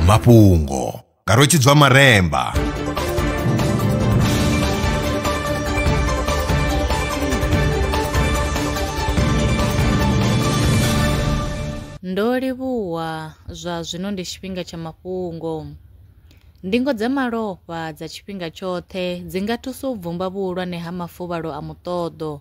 mafhungo nga rotshidzwa maremba ndo livhuwa zwa zwino ndi tshifhinga tsha mafhungo ndingo dza malofha dza tshifhinga tshoṱhe dzi nga thusa u bvumba vhuhulwane ha mafuvhalo a muṱoḓo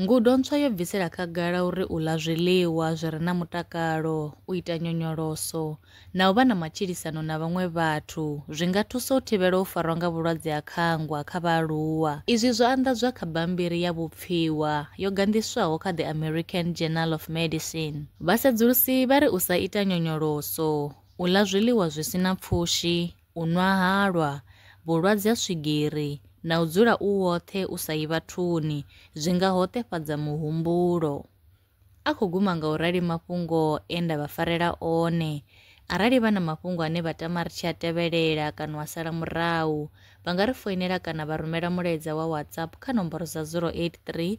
Ngudo ntswa yo bvisela khagala uri u ḽa zwiḽiwa zwi re na mutakalo, u ita nyonyoloso na u vha na matshilisano na vhaṅwe vhathu zwi nga thusa u thivhela u farwa nga vhulwadze ha khangwa kha vhaaluwa. Izwi zwo anḓadzwa kha bammbiri ya vhupfiwa yo ganḓiswaho kha The American Journal of Medicine. Vhasedzulusi vha ri u sa ita nyonyoloso, u ḽa zwiḽiwa zwi si na pfushi, u nwa halwa, vhulwadze ha swigiri na u dzula u woṱhe u sa yi vhathuni zwi nga hoṱefhadza muhumbulo. A khou guma nga u rali mafhungo e nda vha farela one. Arali vha na mafhungo ane vha tama ri tshi a tevhelela kana a sala murahu, vha nga ri foinela kana vha rumela mulaedza wa WhatsApp kha nomboro dza 083